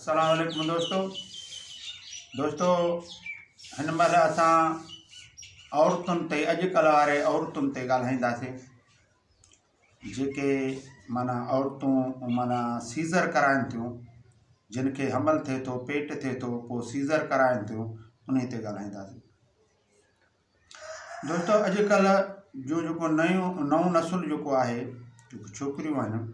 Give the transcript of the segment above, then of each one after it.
اسلام عليڪم دوستو دوستو هن مهل اسان عورتن تي اڄ ڪلهه واري عورتن تي ڳالهائينداسين جيڪي مانا عورتون مانا سيزر ڪرائن ٿيون جن کي حمل ٿئي ٿو پيٽ ٿئي ٿو پوء سيزر ڪرائن ٿيون ان تي ڳالهائينداسين دوستو اڄڪلھ جو جيڪو نيون نئون نسل جيڪو آهي جيڪو ڇوڪريون آهن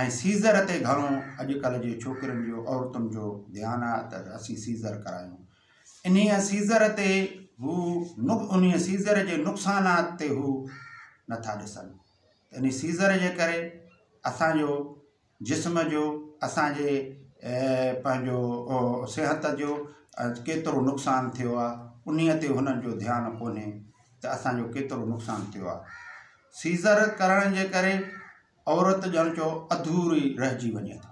۽ سيزر تي گهڻو اڄ ڪلهه جي ڇوڪرين جو عورتن جو ڌيان آهي ته اسين سيزر ڪرايون انهي سيزر تي هو انهي سيزر جي نقصانات تي هو نٿا ڏسن انهي سيزر جي ڪري اسان جو جسم جو اسان جي پنهنجو صحت جو ڪيترو نقصان ٿيو آهي انهي تي هنن جو ڌيان ڪونهي ته اسان جو ڪيترو نقصان ٿيو آهي سيزر ڪرڻ جي ڪري عورت ڄڻ جو اڌوري رهجي وڃي ٿي.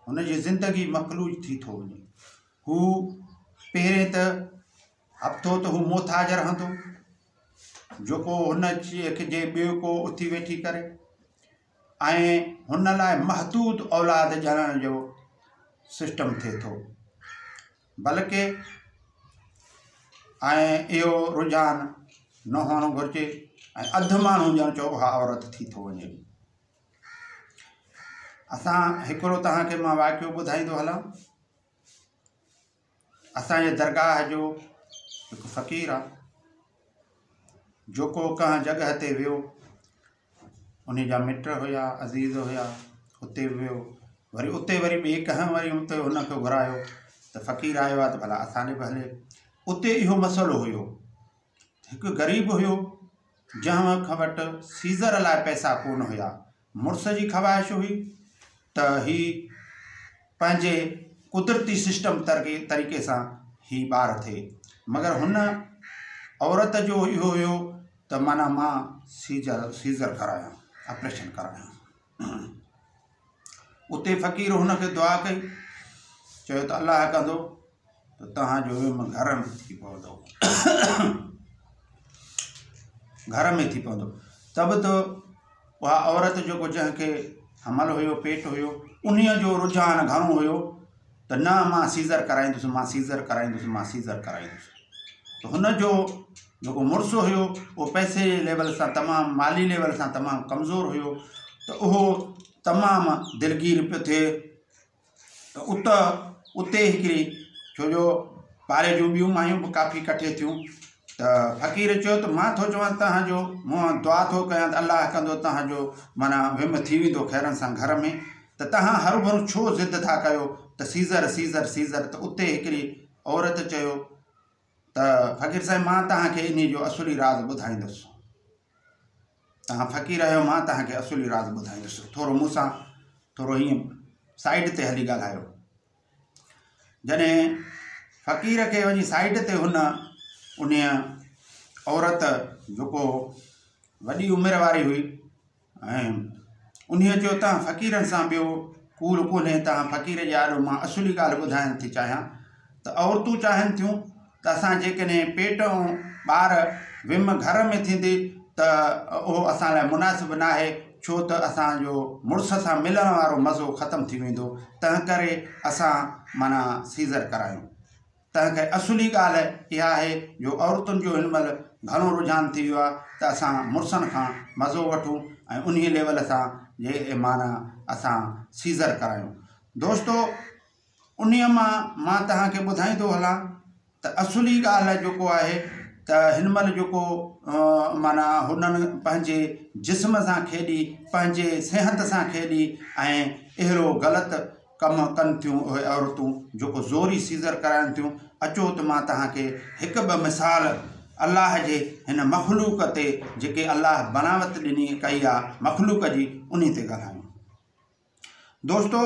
هن جي زندگي مفلوج ٿي ٿو وڃي. هو پهرين ته هفتو ته هو موٿاج رهندو جيڪو هن کي ٻيو ڪو اٿي ويٺي ڪري ۽ هن لاء محدود اولاد ڄڻڻ جو سسٽم ٿئي ٿو. بلڪه ۽ اهو رجحان نه هئڻ گهرجي ۽ اڌ ماڻهو ڄڻ چئو اها عورت ٿي ٿو وڃي اسان هڪڙو توهان کي مان واقعو ٻڌائيندو هلان اسان جي درگاهه جو هڪ فقير آ جو ڪو ڪنهن جڳهه تي ويو انهي جا مٽ هيا، عزيز هيا، اتي به ويو، وري اتي وري ٻئي ڪنهن وري اتي هن کي گهرايو ته فقير آيو آهي ته ڀلا اسان ڏي به هلي، اتي اهو مسئلو هيو، هڪ غريب هيو، جنهن کان وٽ سيزر لاء پئسا ڪونه هيا، مڙس جي خواهش هئي ته هي پنهنجي قدرتي سسٽم طريقي سان هي ٻار ٿئي، مگر هن عورت جو اهو هيو ته معنيٰ مان سيزر سيزر ڪرايان آپريشن ڪرايان اتي فقير هن کي دعا ڪئي چيو ته الله ڪندو ته توهان جو ويم گهر ۾ ٿي پوندو گهر ۾ ٿي پوندو ته به تو اها عورت جيڪو جنهن کي حمل هيو پيٽ هيو انهيء جو رجحان گهڻو هيو ته نه مان سيزر ڪرائيندس مان سيزر ڪرائيندس مان سيزر ڪرائيندس ته هن جو جيڪو مڙس هيو اهو پئسي جي ليول سان تمام مالي ليول سان تمام ڪمزور هيو ته اهو تمام دلگير پيو ٿئي ته اتي اتي هڪڙي ڇو جو پاري جون ٻيون مايون به ڪافي ڪٺي ٿيون ته فقير چيو ته مان ٿو چوان تنهن جو مون دعا ٿو ڪيان ته الله ڪندو تنهن جو معنيٰ ويم ٿي ويندو خيرن سان گهر ۾ ته تنهن هرو ڀرو ڇو ضد ٿا ڪيو ته سيزر سيزر سيزر ته اتي هڪڙي عورت چيو ته فقير صاحب مان توهان کي انهي جو اصولي راز ٻڌائيندس توهان فقير آهيو مان توهان کي اصولي راز ٻڌائيندس ٿورو مون سان ٿورو ائين سائيڊ تي هلي ڳالهايو جڏهن فقير کي وڃي سائيڊ تي هن انهي عورت جيڪو وڏي عمر واري هئي ۽ انهيء جو تنهن فقيرن سان ٻيو ڪول ڪونهي. تنهن فقير جي آڏو مان اصولي ڳالهه ٻڌائڻ ٿي چاهيان ته عورتون چاهين ٿيون ته اسان جيڪڏهن پيٽ ۽ ٻار ويم گهر ۾ ٿيندي ته اهو اسان لاء مناسب ناهي ڇو ته اسان جو مڙس سان ملڻ وارو مزو ختم ٿي ويندو تنهنڪري اسان معنيٰ سيزر ڪرايون. تنهنڪري اصولي ڳالهه اها آهي جو عورتن جو هن مهل گهڻو رجحان ٿي ويو آهي ته اسان مڙسن کان مزو وٺون ۽ انهيء ليول سان جي اي معنيٰ اسان سيزر ڪرايون. دوستو انهيء مان مان توهان کي ٻڌائيندو هلان ته اصولي ڳالهه جيڪو آهي ته هن مهل جيڪو معنيٰ هنن پنهنجي جسم سان کيڏي پنهنجي صحت سان کيڏي ۽ اهڙو غلط ڪم ڪن ٿيون اهي عورتون جيڪو زوري سيزر ڪرائن ٿيون اچو ته مان توهان کي هڪ ٻه مثال الله جي هن مخلوق تي جيڪي الله بناوت ڏني ڪئي آ مخلوق جي انهي تي ڳالهايون دوستو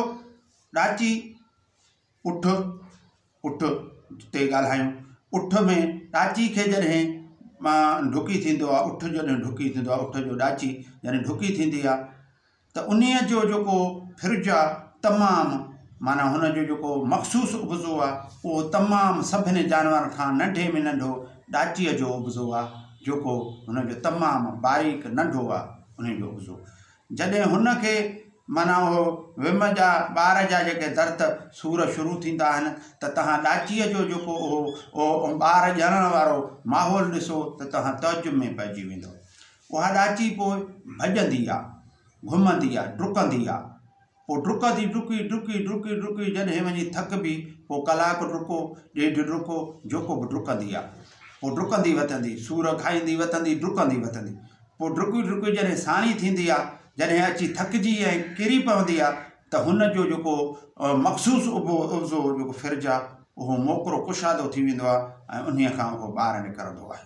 ڏاچي اٺ اٺ تي ڳالهايون اٺ ۾ ڏاچي کي جڏهن ڊڪي ٿيندو آ اٺ جڏهن ڊڪي ٿيندو آ اٺ جو ڏاچي جڏهن ڊڪي ٿيندي آ ته انهيء جو جيڪو فرج آ تمام معنيٰ هن جو جيڪو مخصوص عبضو آ اهو تمام سڀني جانورن کان ننڍي ۾ ننڍو ڏاچيء جو عبضو آ جيڪو هن جو تمام باريڪ ننڍو آ انهيء جو عبضو جڏهن هن کي معنيٰ اهو ويم جا ٻار جا جيڪي درد سور شروع ٿيندا آهن ته توهان ڏاچيء جو جيڪو اهو اهو ٻار ڄڻڻ وارو ماحول ڏسو ته توهان تعجب ۾ پئجي ويندؤ اها ڏاچي پوء ڀڄندي آ، گهمندي آ، ڊڪندي آ. پوء ڊڪ ٿي، ڊڪي، ڊڪي، ڊڪي، ڊڪي جڏهن وڃي ٿڪبي، پوء ڪلاڪ ڊڪو، ڏيڍ ڊڪو، جيڪو به ڊڪندي آ. پوء ڊڪندي وتندي، سور کائيندي وتندي، ڊڪندي وتندي. پوء ڊڪي ڊڪي جڏهن ساڻي ٿيندي آ، جڏهن اچي ٿڪجي ۽ ڪري پوندي آ، ته هن جو جيڪو مخصوص اڀو عضو جيڪو ڦرج آ، اهو موڪرو ڪشادو ٿي ويندو آ ۽ انهيء کان اهو ٻاهر نڪرندو آهي.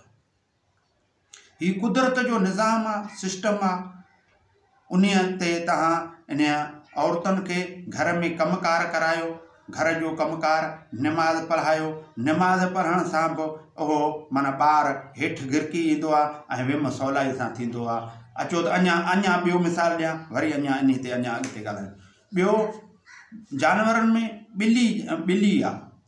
هي قدرت جو نظام آ سسٽم آ انهي تي توهان انهي عورتن کي گهر ۾ ڪم ڪار ڪرايو گهر جو ڪم ڪار نماز پڙهايو نماز پڙهڻ سان به اهو معنيٰ ٻار هيٺ گرڪي ايندو آ ۽ ويم سولائي سان ٿيندو آ اچو ته اڃا اڃا ٻيو مثال ڏيان وري اڃا انهي تي اڃا اڳتي ڳالهايون ٻيو جانورن ۾ ٻلي ٻلي آ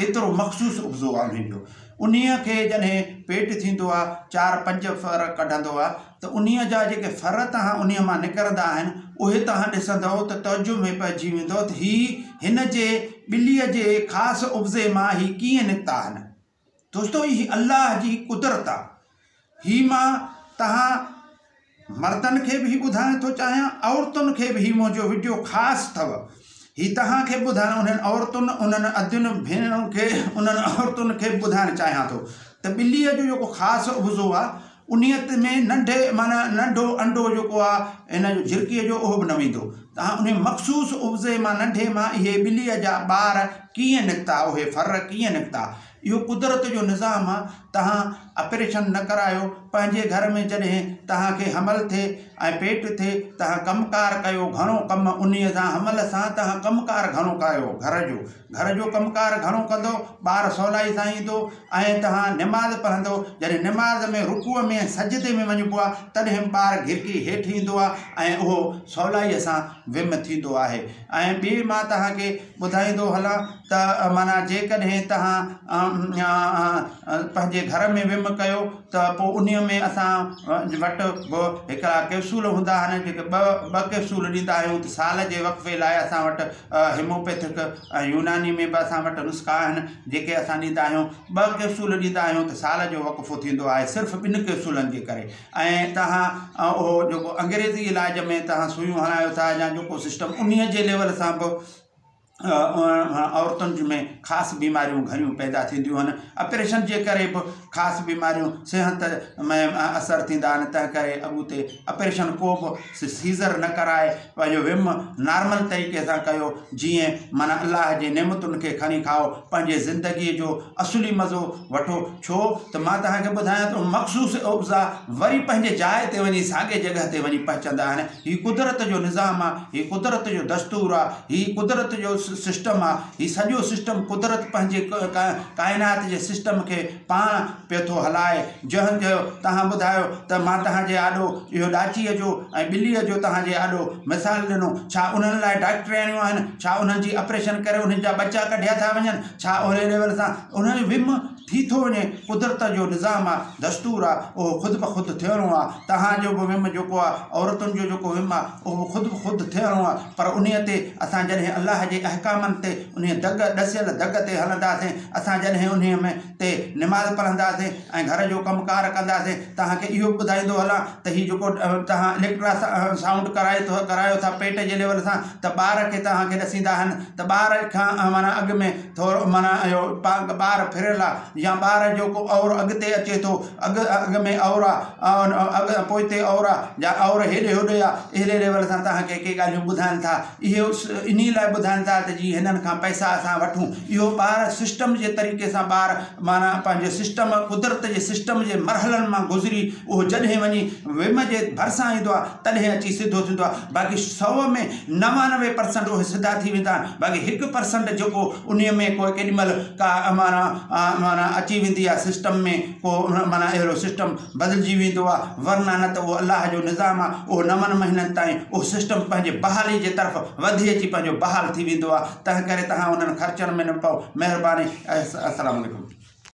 ايترو مخصوص اپزو آ انهيء جو. انهيء کي جڏهن پيٽ ٿيندو آ، چار پنج ڦر ڪڍندو آ، ته انهيء جا جيڪي ڦر توهان انهيء مان نڪرندا آهن، اهي توهان ڏسندؤ ته تعجب ۾ پئجي ويندؤ ته هي هن جي ٻليء جي خاص اپزي مان هي ڪيئن نڪتا آهن. دوستو! هي الله جي قدرت آ. هي مان تهان مردن کي به هي ٻڌائڻ ٿو چاهيان عورتن کي به هي منهنجو وڊيو خاص اٿو هي تهان کي ٻڌائڻ انهن عورتن انهن ادين ڀينرن کي انهن عورتن کي ٻڌائڻ چاهيان ٿو ته ٻلي جو جيڪو خاص عضو آ انيت ۾ ننڍي معنی ننڍو انڊو جيڪو آ هن جو جھرڪي جو اهو به نه ويندو تهان انهي مخصوص عضي مان ننڍي مان اهي ٻلي جا ٻار ڪيئن نڪتا اهي ڦر ڪيئن نڪتا اهو قدرت جو نظام آ توهان اپريشن نه ڪرايو پنهنجي گهر ۾ جڏهن توهان کي حمل ٿئي ۽ پيٽ ٿئي توهان ڪم ڪار ڪيو گهڻو ڪم انهي سان حمل سان توهان ڪم ڪار گهڻو ڪايو گهر جو گهر جو ڪم ڪار گهڻو ڪندو ٻار سولائي سان ايندو ۽ توهان نماز پڙهندو جڏهن نماز ۾ رڪوع ۾ ۽ سجدي ۾ وڃبو آ تڏهن ٻار گهرڪي هيٺ ايندو آ ۽ اهو سولائي سان ويم ٿيندو آهي ۽ ٻي مان توهان کي ٻڌائيندو هلان ته معنيٰ جيڪڏهن توهان پنهنجي گهر ۾ ويم ڪيو ته پوء انهيء ۾ اسان وٽ به هڪڙا ڪئپسول هوندا آهن جيڪي ٻه ٻه ڪئپسول ڏيندا آهيون ته سال جي وقفي لاء اسان وٽ هيموپيٿڪ ۽ يوناني ۾ به اسان وٽ نسخا آهن جيڪي اسان ڏيندا آهيون ٻه ڪئپسول ڏيندا آهيون ته سال جو وقفو ٿيندو آهي صرف ٻن ڪئپسولن جي ڪري ۽ توهان اهو جيڪو انگريزي علاج ۾ توهان سوئيون هڻايو ٿا يا جيڪو سسٽم انهي جي ليول سان به عورتن جي ۾ خاص بيماريون گهڻيون پيدا ٿينديون آهن اپريشن جي ڪري به خاص بيماريون صحت ۾ اثر ٿيندا آهن تنهن ڪري اڳتي اپريشن ڪو به سيزر نه ڪرائي پنهنجو ويم نارمل طريقي سان ڪيو جيئن معنيٰ الله جي نعمتن کي کڻي کائو پنهنجي زندگي جو اصلي مزو وٺو ڇو ته مان توهان کي ٻڌايان ٿو مخصوص اوبزا وري پنهنجي جاء تي وڃي ساڳي جڳهه تي وڃي پهچندا آهن هي قدرت جو نظام آهي هي قدرت جو دستور آهي هي قدرت جو سسٽم آهي هي سڄو سسٽم قدرت پنهنجي ڪائنات جي سسٽم کي پاڻ پيو ٿو هلائي. جهن چيو، توهان ٻڌايو ته مان توهان جي آڏو اهو ڏاچيء جو ۽ ٻليء جو توهان جي آڏو مثال ڏنو، ڇا انهن لاء ڊاڪٽرياڻيون آهن؟ ڇا انهن جي اپريشن ڪري انهن جا ٻچا ڪڍيا ٿا وڃن؟ ڇا اهڙي ليول سان انهن جو ويم ٿي ٿو وڃي؟ قدرت جو نظام آ، دستور آ، اهو خود به خود ٿيڻو آ. توهان جو به ويم جيڪو آ، عورتن جو جيڪو ويم آ، اهو به خود به خود ٿيڻو آ. پر انهيء تي اسان جڏهن الله جي احڪامن تي، انهيء دڳ، ڏسيل دڳ تي هلنداسين، اسان جڏهن انهيء ۾. تي نماز پڙهنداسين ۽ گهر جو ڪم ڪار ڪنداسين توهان کي اهو به ٻڌائيندو هلان ته هي جيڪو توهان اليڪٽرا سائونڊ ڪرائي ٿو ڪرايو ٿا پيٽ جي ليول سان ته ٻار کي توهان کي ڏسيندا آهن ته ٻار کان معنيٰ اڳ ۾ ٿورو معنيٰ اهو ٻار ڦريل آهي يا ٻار جيڪو اور اڳتي اچي ٿو اڳ اڳ ۾ اور آهي اڳ پوئتي اور آهي يا اور هيڏي هوڏي آهي اهڙي ليول سان توهان کي ڪي ڳالهيون ٻڌائن ٿا اهو انهي لاء ٻڌائين ٿا ته جي هنن کان پئسا اسان وٺون اهو ٻار سسٽم جي طريقي سان ٻار معنيٰ پنهنجي سسٽم قدرت جي سسٽم جي مرحلن مان گذري اهو جڏهن وڃي ويم جي ڀرسان ايندو آهي تڏهن اچي سڌو ٿيندو آهي باقي سو ۾ نوانوي پرسنٽ اهي سڌا ٿي ويندا آهن باقي هڪ پرسنٽ جيڪو انهي ۾ ڪو ڪيڏي مهل ڪا معنيٰ معنيٰ اچي ويندي آهي سسٽم ۾ ڪو معنيٰ اهڙو سسٽم بدلجي ويندو آ ورنه نه ته اهو الله جو نظام آ اهو نون مهينن تائين اهو سسٽم پنهنجي بحالي جي طرف وڌي اچي پنهنجو بحال ٿي ويندو آ تنهن ڪري تهان انهن خرچن ۾ نه پئو مهرباني السلام عليڪم.